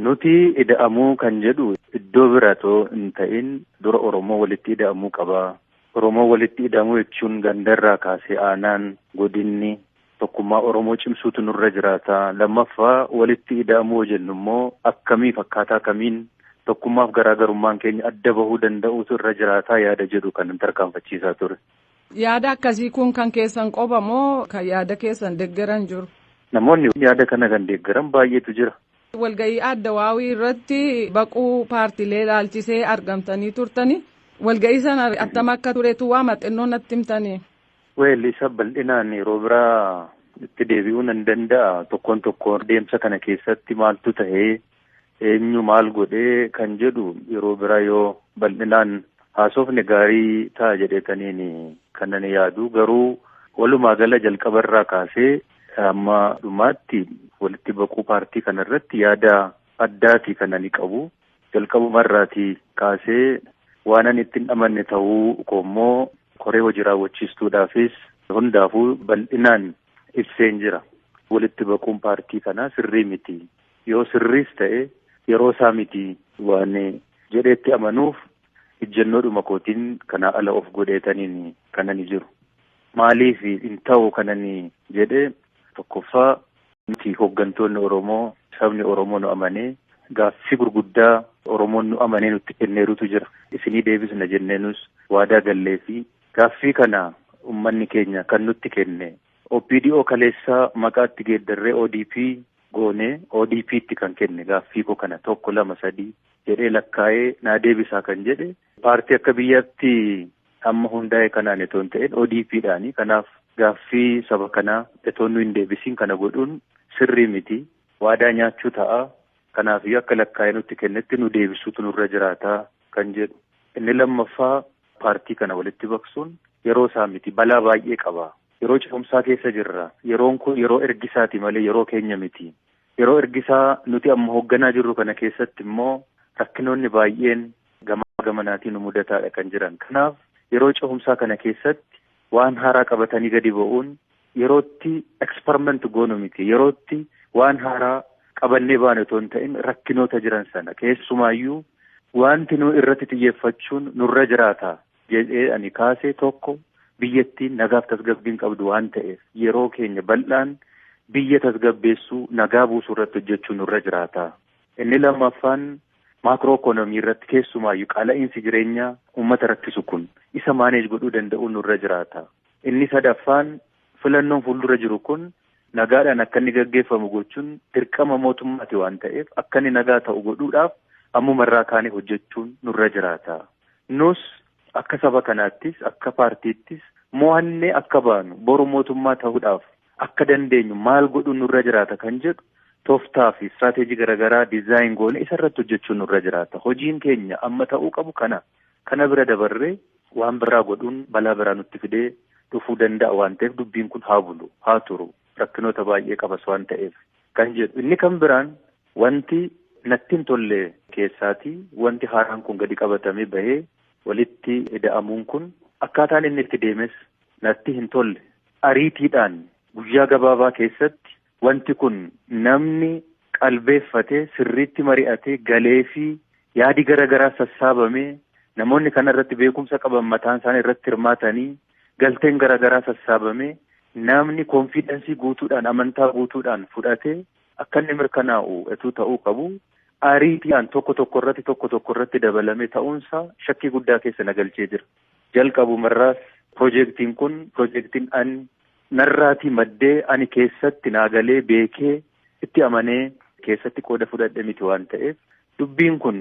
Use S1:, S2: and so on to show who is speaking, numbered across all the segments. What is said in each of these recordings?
S1: Nuti ida'amuu kan jedhu iddoo bira otoo hin ta'in dura Oromoo walitti ida'amuu qaba. Oromoo walitti ida'amuu jechuun gandarraa kaasee aanaan, godinni, Tokkummaa Oromoo cimsuutu nurra jiraata. Lammaffaa walitti ida'amuu yoo jennu immoo akkamiif akkaataa kamiin tokkummaaf garaa garummaan keenya adda bahuu danda'uutu irra jiraataa yaada jedhu kan tarkaanfachiisaa ture. Yaada akkasii
S2: kun kan keessan qofa moo kan yaada keessan deggeran jiru? Namoonni yaada
S1: kana kan deeggaran baay'eetu jira. Walga'ii adda
S2: waawii irratti baquu paartiilee ilaalchisee argamtanii turtanii walga'ii sana attam akka turetu waama xinnoo natti himtanii. Well isa
S1: bal'inaan yeroo biraa itti deebi'uu nan danda'a tokkoon tokkoon deemsa kana keessatti maaltu tahee eenyu maal godhee kan jedhu yeroo biraa yoo bal'inaan haasofne gaarii ta'a jedheetaniin kan ani yaadu garuu walumaa gala jalqaba irraa kaasee amma dhumaatti walitti baquu paartii kana irratti yaada addaati kan ani qabu Jalqabuma irraatii kaasee waanan itti hin amanne ta'uu koommoo koree hojii raawwachiistuudhaafis hundaafuu bal'inaan ibseen jira. Walitti baquun paartii kanaa sirrii miti. Yoo sirriis ta'e yeroo isaa miti waan jedheetti amanuuf ijjannoodhuma kootiin kanaa ala of godheetaniin kanani jiru. Maaliif hin ta'u kanani jedhe tokkoffaa Nuti hoggantoonni Oromoo sabni Oromoo nu amanee gaaffii gurguddaa Oromoon nu amanee nutti kenneerutu jira. Isinii deebisna jennee nus waadaa galleefii gaaffii kana ummanni keenya kan nutti kenne OPDO kaleessaa maqaa itti geeddarree odp goonee ODPtti kan kenne gaaffii koo kana tokko lama sadii jedhee lakkaa'ee naa deebisaa kan jedhe Paartii akka biyyaatti amma hundaa'e kanaan itoo hin ta'in ODP dhaani. Kanaaf gaaffii saba kanaa itoo nu hin deebisiin kana godhuun sirrii miti. Waadaa nyaachuu ta'a. Kanaafiyyuu akka lakkaa'ee nutti kennetti nu deebisuutu nurra jiraata kan jedhu. Inni lammaffaa paartii kana walitti baqsuun yeroo isaa miti. Balaa baay'ee qaba. Yeroo ce'umsaa keessa jirra. Yeroon kun yeroo ergisaati malee yeroo keenya miti. Yeroo ergisaa nuti amma hoogganaa jirru kana keessatti immoo rakkinoonni baay'een gamaa gamanaatii nu mudataadha kan jiran. Kanaaf yeroo cehumsaa kana keessatti waan haaraa qabatanii gadi ba'uun yerootti experiment goonu miti. Yerootti waan haaraa qabannee baane otoo hin ta'in rakkinoota jiran sana keessumaayyuu wanti nu irratti xiyyeeffachuun nurra jiraata jedhee ani kaase tokko biyyattiin nagaaf tasgabbiin qabdu waan ta'eef yeroo keenya bal'aan biyya tasgabbeessuu nagaa buusuu irratti hojjechuu nurra jiraata. Inni lammaffaan maakroo ikoonomii irratti keessumaayyu qaala'iinsi jireenyaa uummata rakkisu kun isa maaneej godhuu danda'uu nurra jiraata. Inni sadaffaan filannoon fuuldura jiru kun nagaadhaan akka inni gaggeeffamu gochuun dirqama mootummaati waan ta'eef akka inni nagaa ta'u godhuudhaaf ammuma irraa kaanee hojjechuun nurra jiraata. Nus akka saba kanaattis akka paartiittis mo'annee akka baanu boru mootummaa ta'uudhaaf akka dandeenyu maal godhuun nurra jiraata kan jedhu toftaa fi istiraateejii garaagaraa dizaayin goone isa irratti hojjechuun nurra jiraata. Hojiin keenya amma ta'uu qabu kana. Kana bira dabarree waan biraa godhuun balaa biraa nutti fidee dhufuu danda'a waan ta'eef dubbiin kun haa bulu, haa turu, rakkinoota baay'ee qabas waan ta'eef kan jedhu. Inni kan biraan wanti natti hin tolle keessaatii wanti haaraan kun gadi qabatamee bahee walitti ida'amuun kun akkaataan inni itti deemes natti hin tolle. Ariitiidhaan guyyaa gabaabaa keessatti Wanti kun namni qalbeeffate sirriitti mari'atee galeefii yaadi gara garaa sassaabamee namoonni kana irratti beekumsa qaban mataan isaanii irratti hirmaatanii galteen gara garaa sassaabamee namni konfiidensii guutuudhaan amantaa guutuudhaan fudhate akka inni mirkanaa'u etuu ta'uu qabu ariitiidhaan tokko tokko irratti tokko tokko irratti dabalamee ta'uunsaa shakkii guddaa keessa na galchee jira. Jalqabumarraas pirojektiin kun pirojektiin an narraatii maddee ani keessatti naa galee beekee itti amanee keessatti qooda fudhadhe miti waan ta'eef dubbiin kun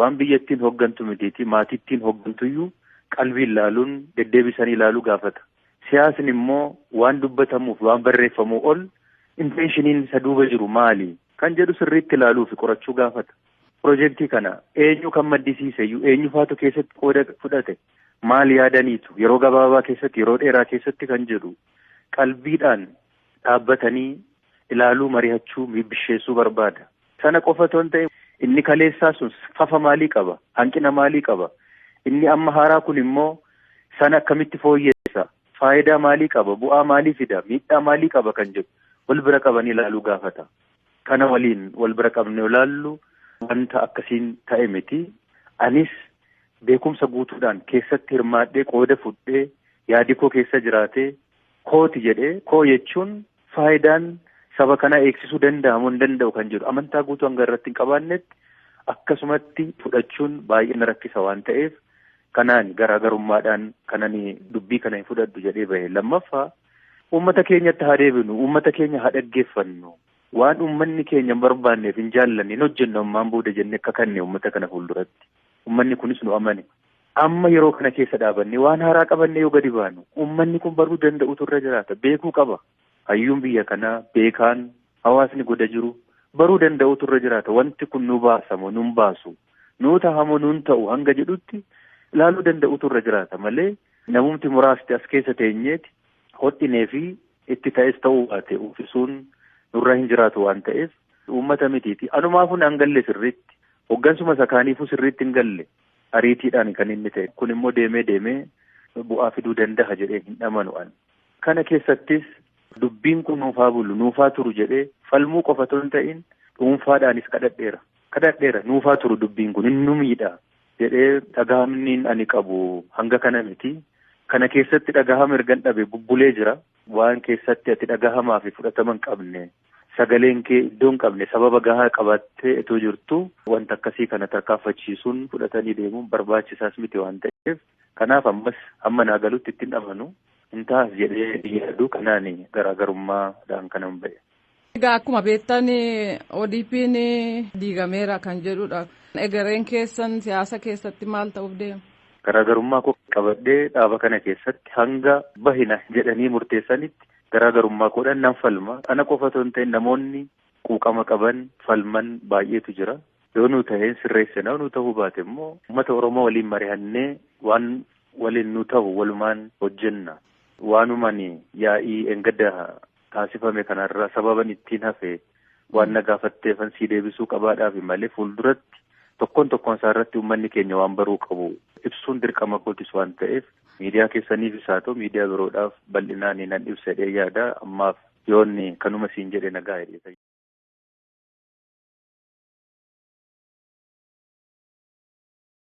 S1: waan biyyattiin hoggantu mitiitii maatittiin hoggantuyyuu qalbiin laaluun deddeebisanii ilaaluu gaafata. Siyaasni immoo waan dubbatamuuf waan barreeffamuu ol inteenshiniin isa duuba jiru maali kan jedhu sirriitti ilaaluufi qorachuu gaafata. Pirojektii kana eenyu kan maddisiise iyyuu eenyufaatu keessatti qooda fudhate maal yaadaniitu yeroo gabaabaa keessatti yeroo dheeraa keessatti kan jedhu qalbiidhaan dhaabbatanii ilaaluu marihachuu miibbisheessuu barbaada. Sana qofa otoo hin ta'in inni kaleessaa sun fafa maalii qaba hanqina maalii qaba inni amma haaraa kun immoo sana akkamitti fooyyeessa faayidaa maalii qaba bu'aa maalii fida miidhaa maalii qaba kan jedhu wal bira qabanii ilaaluu gaafata. Kana waliin wal bira qabnee yoo ilaallu wanta akkasiin ta'e miti. Anis beekumsa guutuudhaan keessatti hirmaadhee qooda fudhee yaadi koo keessa jiraatee kooti jedhee koo jechuun faayidaan saba kanaa eegsisuu danda'a moo hin danda'u kan jedhu amantaa guutuu hanga irratti hin qabaannetti akkasumatti fudhachuun baay'ee na rakkisa waan ta'eef kanaan garaagarummaadhaan kanani dubbii kana hin fudhadhu jedhee bahe lammaffaa Uummata keenyatti haa deebinu, uummata keenya haa dhaggeeffannu, waan uummanni keenya hin barbaanneef, hin jaallanne hin hojjennu ammaan booda jennee kakanne uummata kana fuulduratti. Uummanni kunis nu amane. Amma yeroo kana keessa dhaabannee waan haaraa qabannee yoo gadi baanu uummanni kun baruu danda'utu irra jiraata. Beekuu qaba. Hayyuun biyya kanaa, beekaan, hawaasni goda jiru baruu danda'utu irra jiraata. Wanti kun nu baasamo, nun baasu, nuu tahamo, nun ta'u hanga jedhutti ilaaluu danda'utu irra jiraata malee Namumti muraasti as keessa teenyeeti hodhinee fi itti ta'es ta'uu baate uffisuun nurra hin jiraatu waan ta'eef uummata mitiiti. Anumaafuu naan galle sirriitti. Hoggansuma isa kaaniifuu sirriitti hin galle. Ariitiidhaan kan inni ta'e. Kun immoo deemee deemee bu'aa fiduu danda'a jedheen hin amanu ani. Kana keessattis dubbiin kun nuuf haa bulu, nuuf haa turu jedhee falmuu qofa otoo hin ta'iin dhuunfaadhaanis kadhadheera. Kadhadheera nuuf haa turu dubbiin kun hin nu miidhaa. jedhee dhagahamniin ani qabu hanga kana miti. Kana keessatti dhagahama ergan dhabe bubbulee jira. Waan keessatti ati dhagahamaa fi fudhatama hin qabne sagaleen kee iddoo hin qabne sababa gahaa qabattee itoo jirtu wanta akkasii kana tarkaanfachiisuun fudhatanii deemuun barbaachisaas miti waan ta'eef kanaaf ammas hamma naa galutti ittiin amanu hin taas jedhee yaaduu kanaan garaagarummaadhaan kanan ba'e. Egaa akkuma
S2: beektan ODP'n diigameera kan jedhudha. Egereen keessan siyaasa keessatti maal ta'uuf deema? Garaagarummaa koo
S1: qabadhee dhaaba kana keessatti hanga bahina jedhanii murteessanitti garaagarummaa koodhaan nan falma. Ana qofa otoo hin ta'in namoonni quuqama qaban falman baay'eetu jira. Yoo nu ta'een sirreessina nu ta'uu baate immoo uummata Oromoo waliin mari'annee waan waliin nu ta'u walumaan hojjenna. Waanumaan yaa'ii engadda taasifame kana irraa sababan ittiin hafe waan na gaafatteefan sii deebisuu qabaadhaafi malee fuulduratti tokkoon tokkoon isaa irratti uummanni keenya waan baruu qabu ibsuun dirqama kootis waan ta'eef miidiyaa keessaniifis haa ta'u miidiyaa biroodhaaf bal'inaan nan ibsadhee yaada ammaaf yoonni kanuma siin jedhe nagaa jedhe.